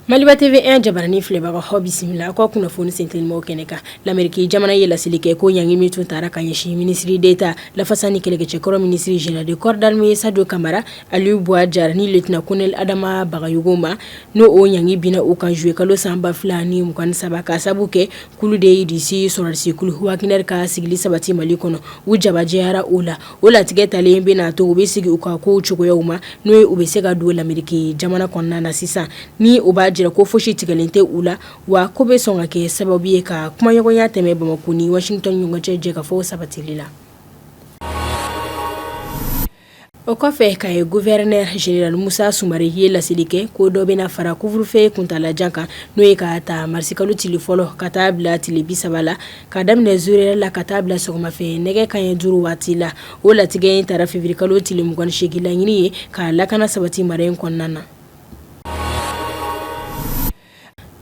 Maliba TV1 jabaranin filɛbagaw aw bisimila aw ka kunnafoni sentelimanw kɛnɛ kan lameriki jamana ye laseli kɛ ko ɲangi min tun tara ka ɲɛsin minisiri d'État lafasa ni kɛlɛkɛcɛkɔrɔ minisiri général de corps d'armée Sajo Kamara Alu Bwa Jara ni lieutenant colonel Adama Bagayogo ma n'o o ɲangi binna u kan zuye kalo san ba fila ni mugan ni saba ka sababu kɛ k'olu de ye Irisi sɔrɔdasi kulu Wagner ka sigili sabati Mali kɔnɔ, u jabajɛyara o la, o latigɛ talen bɛna to u bɛ segin u ka kow cogoyaw ma n'o ye u bɛ se ka don lameriki jamana kɔnɔna na sisan, ni o b'a jira ko fosi tigɛlen tɛ u la, wa k'o bɛ sɔn ka kɛ sababu ye ka kumaɲɔgɔnya tɛmɛn Bamako ni Washington ni ɲɔgɔn cɛ jɛkafɔw sabatili la. O kɔfɛ Kayi gouverneur général Musa Sumare ye laseli kɛ ko dɔ bɛna fara couvre-feu kuntaalajan kan n'o ye k'a ta marisi kalo tile fɔlɔ ka taa bila tile bi saba la ka daminɛ zéro heure la ka taa bila sɔgɔmafɛn nɛgɛ kanɲɛ duuru waati la o latigɛ in tara feviriye kalo tile mugan ni seegin laɲini ye ka lakana sabati mara in kɔnɔna na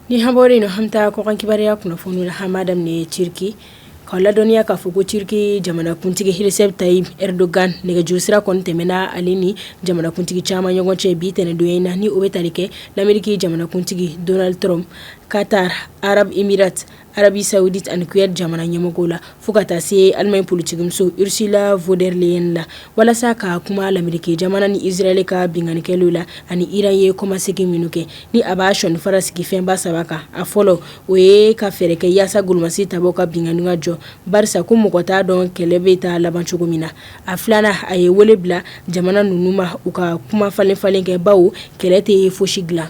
Ni an bɔra in na an bɛ taa kɔkan kibaruya kunnafoni la an b'a daminɛ Turki ka ladɔnniya k'a fɔ ko Turki jamanakuntigi Recep Tayyip Erdogan nɛgɛjuru sira kɔni tɛmɛna ale ni jamanakuntigi caman ɲɔgɔn cɛ bi ntɛnɛn don in na ni o bɛ tali kɛ lameriki jamanakuntigi Donald Trump Qatar Arab Emirat Arabie Saoudite ani Koweït jamana ɲɛmɔgɔw la fo ka taa se Alimaɲi politikimuso Ursula von der Leyen la walasa ka kuma lameriki jamana ni israeli ka binkanni kɛlenw la ani Iran ye kɔmasegin minnu kɛ ni a b'a sɔninfara sigi fɛnba saba kan a fɔlɔ o ye ka fɛɛrɛ kɛ yaasa golomasi tabaw ka binkanni ka jɔ barisa ko mɔgɔ t'a dɔn kɛlɛ bɛ taa laban cogo min na a filanan a ye wele bila jamana ninnu ma u ka kumafalenfalen kɛ bawo kɛlɛ tɛ foyi si dilan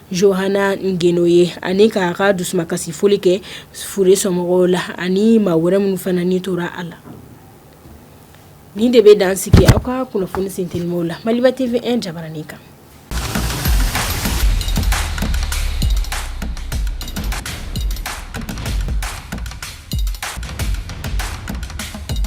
Johana Ngono ye ani k'a ka dusumankasi foli kɛ fure somɔgɔw la ani maa wɛrɛ minnu fana ni tora a la nin de bɛ dan sigi aw ka kunnafoni sentelimanw la Maliba TV1 jabaranin kan